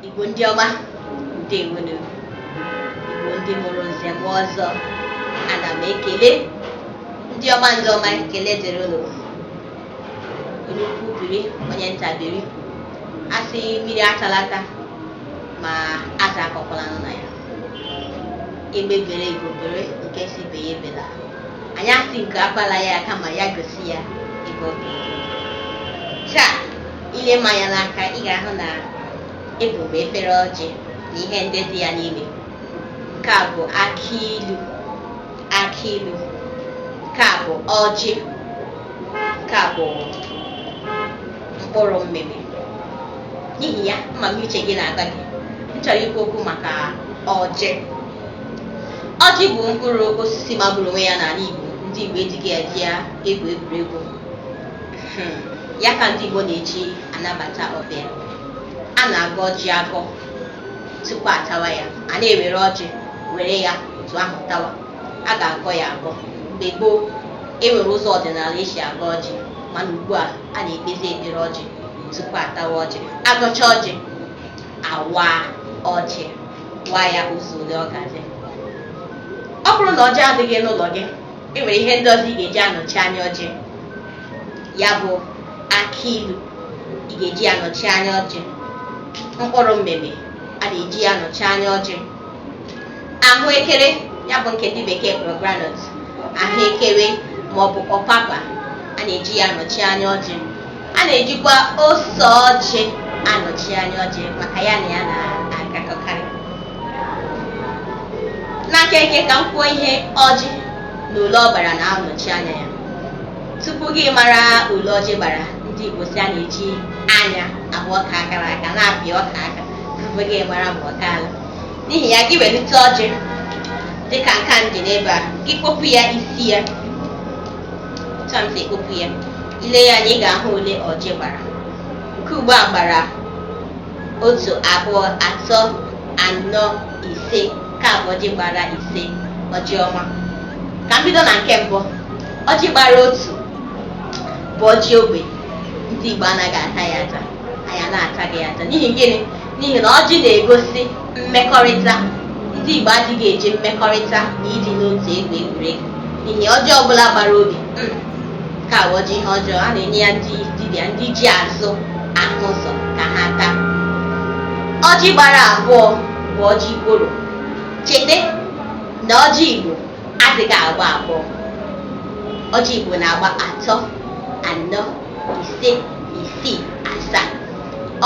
Igbo ndị ọma ndewonu Igbo ndị mụrụ nze mụọ ọzọ ana m ekele ndị ọma ndị ọma ekele dịrị unu onye ukwu biri onye nta biri asị mmiri atala ata ma azụ akọkwala nụ na ya egbe bere ugo bere nke sị ibe ya ebela anyị asị nku akwala ya kama ya gosi ya ebe ọ ga-ebe cha ile m anya n'aka ị ga-ahụ na ebu m efere ọjị na ihe ndị dị ya n'ime nke a bụ akị ilu akị ilu nke a bụ ọjị nke a bụ mkpụrụ mmịmị n'ihi ya ama m uche gị na-agwa gị m chọrọ ikwu okwu maka ọjị ọjị bụ mkpụrụ osisi magburu onwe ya n'ala Igbo ndị Igbo ejighị eji ya egwu egwuregwu hmm. ya ka ndị Igbo na-eji anabata ọbịa a na-agọ ọjị agọ tupu atawa ya anaghị ewere ọjị were ya otu ahụ tawa a ga-agọ ya agọ mgbe gboo e nwere ụzọ ọdịnala esi agọ ọjị mana ugbu a a na-ekpezi ekpere ọjị tupu atawa ọjị agọcha ọjị awa ọjị wa ya ụzọ ole ọ ga-ezu ọ bụrụ na ọjị adịghị n'ụlọ gị e nwere ihe ndị ọzọ ị ga-eji anọchi anya ọjị ya bụ akị ilu ị ga-eji anọchi anya ọjị mkpụrụ mmịmị a na-eji ya anọchi anya ọjị ahụekere ya bụ nke ndị bekee kpọrọ groundnut ahụekere ma ọ bụ ọpapa a na-eji ya anọchi anya ọjị a na-ejikwa ose ọjị anọchi anya ọjị maka ya na ya na-agakọkarị n'aka eke ka m kwuo ihe ọjị na ole ọ gbara na-anọchi anya ya tupu gị mara ole ọjị gbara ndị Igbo sị a na-eji anya ahụ ọka kara aka na-apị ọka aka mgbe gị gbara mbọ daalụ n'ihi ya gị welite ọjị dịka nke a m ji n'ebe a gị kpopụ ya isi ya otu a m si ekpopụ ya ile ya anya ị ga-ahụ ole ọjị gbara nke ugbu a gbara otu abụọ atọ anọ ise nke a bụ ọjị gbara ise ọjị ọma ka m bido na nke mbụ ọjị gbara otu bụ ọjị ogbi ndị Igbo anaghị ata ya ata anyị anaghị ata ya ata n'ihi gịnị n'ihi na ọjị na-egosi mmekọrịta ndị Igbo adịghị eji mmekọrịta na ịdị n'otu egwu egwuregwu n'ihi ọjị ọbụla gbara ogbi mm, ka awụ ọjị ihe ọjọọ a na-enye ya ndị dibịa ndị ji azụ ahụ ụzọ ka ha taa ọjị gbara abụọ bụ ọjị gworo cheta na ọjị Igbo adịghị agba abụọ ọjị Igbo na-agba atọ anọ ise isii asaa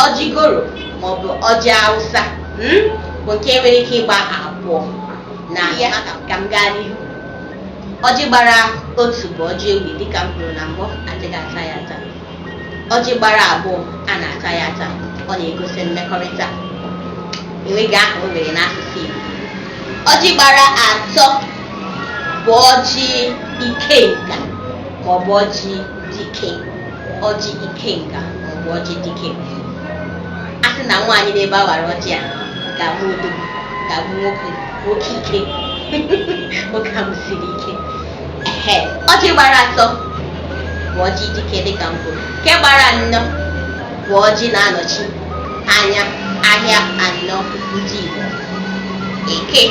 ọjị gworo maọbụ ọjị awụsa mm, bụ nke nwere ike ịgba abụọ ngwa ka m gaa n'ihu ọjị gbara otu bụ ọjị ogbi dịka m kwuru na mbụ adịghị ata ya ata ọjị gbara abụọ a na-ata ya ata ọ na-egosi mmekọrịta enweghị aha o nwere n'asụsụ Igbo ọjị gbara atọ bụ ọjị ikenga maọbụ ọjị dike ọjị ikenga maọbụ ọjị dike a sị na nwaanyị nọ ebe a wara ọjị a ga-abụ udo ga-amụ nwoke nwoke ike nwoke ahụ siri ike ehe ọjị gbara atọ bụ ọjị dike dịka m kwuru nke gbara anọ bụ ọjị na-anọchi anya ahịa anọ ndị Igbo eke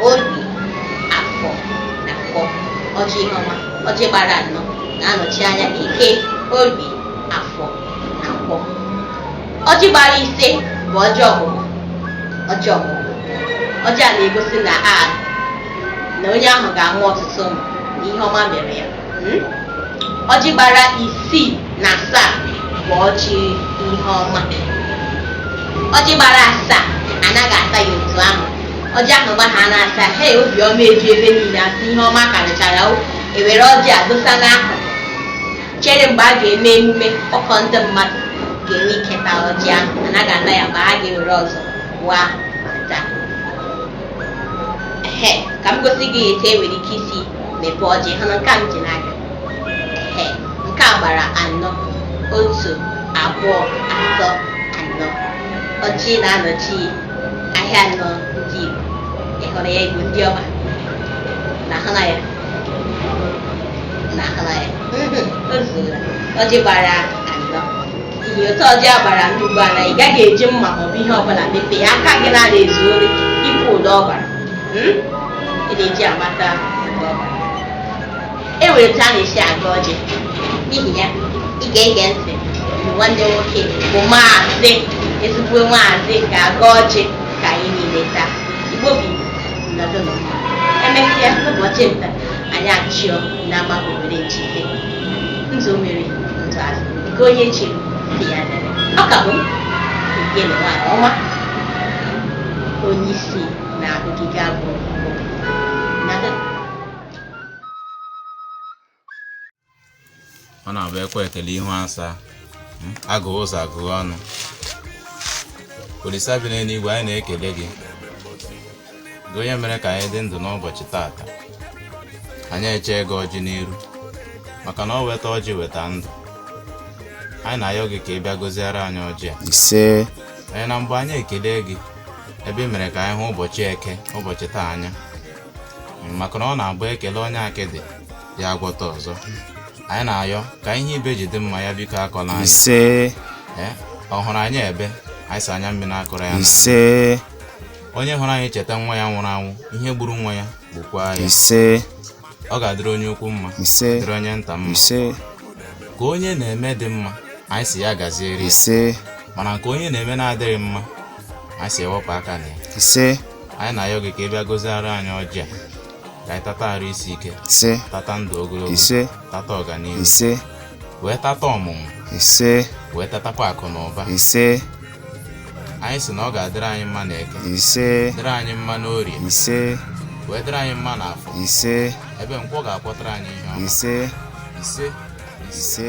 orie afọ na nkwọ ọjị ihe ọma Ọjị gbara anọ na-anọchi anya eke, orie, afọ na nkwọ. Ọjị gbara ise bụ ọjị ọmụmụ. Ọjị ọmụmụ. Ọjị a na-egosi na a na onye ahụ ga-amụ ọtụtụ ụmụ na ihe ọma mere ya. Hmm? Ọjị gbara isii na asaa bụ ọjị ihe ọma. Ọjị gbara asaa anaghị ata ya otu ahụ ọjị ahụ gbaa asaa obi ọma eju ebe niile a sị ihe ọma karịchara o e were ọjị a dosa n'akụkụ chere mgbe a ga-eme emume ọkọ ndị mmadụ ga-enwe ike ta ọjị ahụ a naghị ata ya ma a ga-ewere ọzọ wa ta ehe ka m gosi gị etu e nwere ike isi mepee ọjị hụ na nke a m ji n'aka ehe nke a gbara anọ otu abụọ atọ anọ ọjị na-anọchi ahịa anọ ndị Igbo ịhụrụ ya Igbo ndị ọma unu ahụla ya unu ahụla ya o zuola ọjị gbara anọ ihe otu ọjị a gbara anọ ugbu a na ị gaghị eji mma ma ọ bụ ihe ọbụla mepee ya aka gị na-ada ezu ori ịpụ ụdọ ọbara Hmm? ị na-eji amata e nwere otu a na-esi agọ ọjị n'ihi ya ị ga-ege ntị mgbe nwanne nwoke bụ maazị ezigbo maazị ga-agọ ọjị ka anyị niile taa igbo bụ igbo nọdụ nọ emesịa n'ụbọchị nta anyị achụọ n'ama owere nchi ihe nzu mmiri nzu azụ nke onye chi dị ya dere ọ ka bụ nke na nwaanyị ọma onye isi na-abụgịga abụọ ọ na-abụ e kwe ekele ihu asaa hmm? agụ ụzọ agụ ọnụ olisa bi n'eluigwe anyị na-ekele gị gị onye mere ka anyị dị ndụ n'ụbọchị taata anyị eche gị ọjị n'iru maka na o weta ọjị weta ndụ anyị na-ayọ gị ka ị bịa gọziere anyị ọjị a ise anyị na mgbe anyị ekele gị ebe i mere ka anyị hụ ụbọchị eke ụbọchị taa anya maka na ọ na-abụ e kelee onye akịdị ya agwọta ọzọ anyị na-ayọ ka ihe ibe ji dị mma ya biko akọla anyị ise Ee, ọ hụrụ anyị ebe anyị sị anya mmiri akọla ya n'anya. ise onye hụrụ anyị cheta nwa ya nwụrụ anwụ ihe gburu nwa ya gbukwa ya ise ọ ga-adịrị onye ukwu mma ise dịrị onye nta mma ise nke onye na-eme dị mma anyị sị ya gaziere ya. ise mana nke onye na-eme na-adịghị mma anyị sị e wepụ aka na ya ise anyị na-ayọ gị ka ị bịa gọziara anyị ọjị a ka anyị tata arụ isi ike ise tata ndụ ogologo ise tata ọganihu ise wee tata ọmụmụ ise wee tatakwa akụ na ụba ise anyị sị na ọ ga-adịrị anyị mma n'eke ise dịrị anyị mma n'orie ise wee dịrị anyị mma n'afọ ise ebe nkwọ ga-akwọtara anyị ihe ọma ise ise ise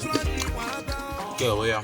Gel ya.